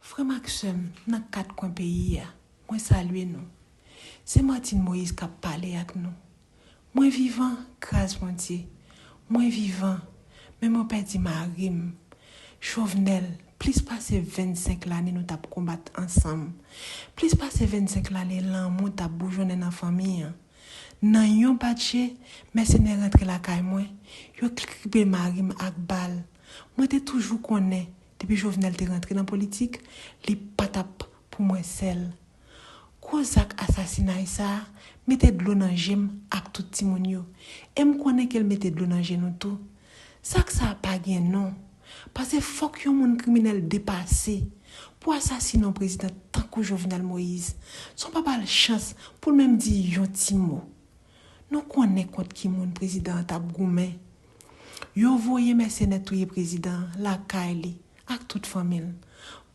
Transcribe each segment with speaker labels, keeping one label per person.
Speaker 1: Frè m ak sè m nan kat kwen peyi a, mwen salye nou. Se Martine Moïse k ap pale ak nou. Mwen vivan, gras Bondye. Mwen vivan, men mwen pèdi mari m, Jovenel, plis pase 25 lane nou t ap konbat ansanm, plis pase 25 lane lanmou t ap boujonnen nan fanmi an. Nan yon bat je, mèsenè rantre lakay mwen, yo kribe mari m ak bal. Mwen te toujou konnen depi Jovenel te rantre nan politik li pa t ap pou mwen sèl. Gwo zak asasinay sa a mete dlo nan je m ak tout timoun yo e m konnen ke l mete dlo nan je nou tou. Zak sa a pa gen non pase fòk yon moun kriminèl depase pou asasine yon prezidan tankou Jovenel Moïse san w pa ba l chans pou l menm di yon ti mo. Nou konnen kont ki moun prezidan an t ap goumen. Yo voye mèsenè touye prezidan an lakay li ak tout fanmi l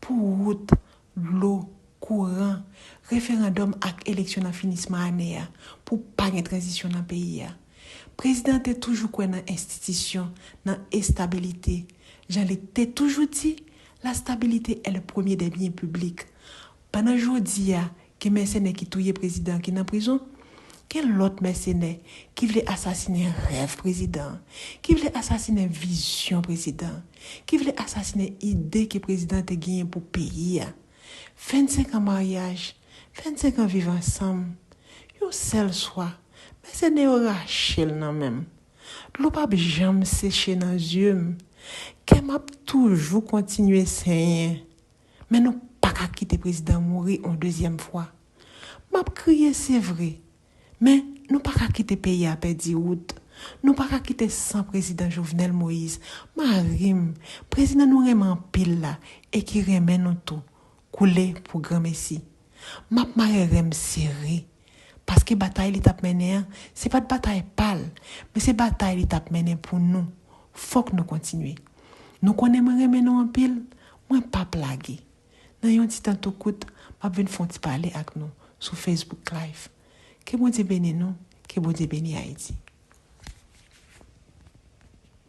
Speaker 1: pou wout, dlo, kouran, referandòm ak eleksyon nan finisman ane a pou pa gen tranzisyon nan peyi a. Prezidan an te toujou kwè nan enstitisyon, nan estabilite. Jan li te toujou di, La stabilité est le premier des biens publics. Pandan jodi a, Gen mèsenè ki touye prezidan an ki nan prizon, gen lòt mèsenè ki vle asasinen rèv prezidan an, ki vle asasinen vizyon prezidan an, ki vle asasinen ide ke prezidan an te genyen pou peyi a. 25 an maryaj, 25 an viv ansanm, yon sèl swa, mèsenè yo rache l nan men m. Dlo pap janm seche nan zye m, kè m ap toujou kontinye senyen. Men nou paka kite prezidan mouri on dezyèm fwa. Map kriye se vre, men nou paka kite peyi a pèdi wout. Nou paka kite san prezidan Jovenel Moïse, mari m, prezidan nou renmen anpil la e ki renmen nou tou, koule pou granmesi. Map mare renm sere. Paske batay li tap mennen an, se pat batay pal, men se batay li tap mennen pou nou. Fok nou kontinye. Nou konnen mwen renmen nou anpil, mwen pap lage. Nan yon ti tan tou kout, map vin fon ti pale ak nou sou Facebook Live. Ke Bondye beni nou, ke Bondye beni Ayiti.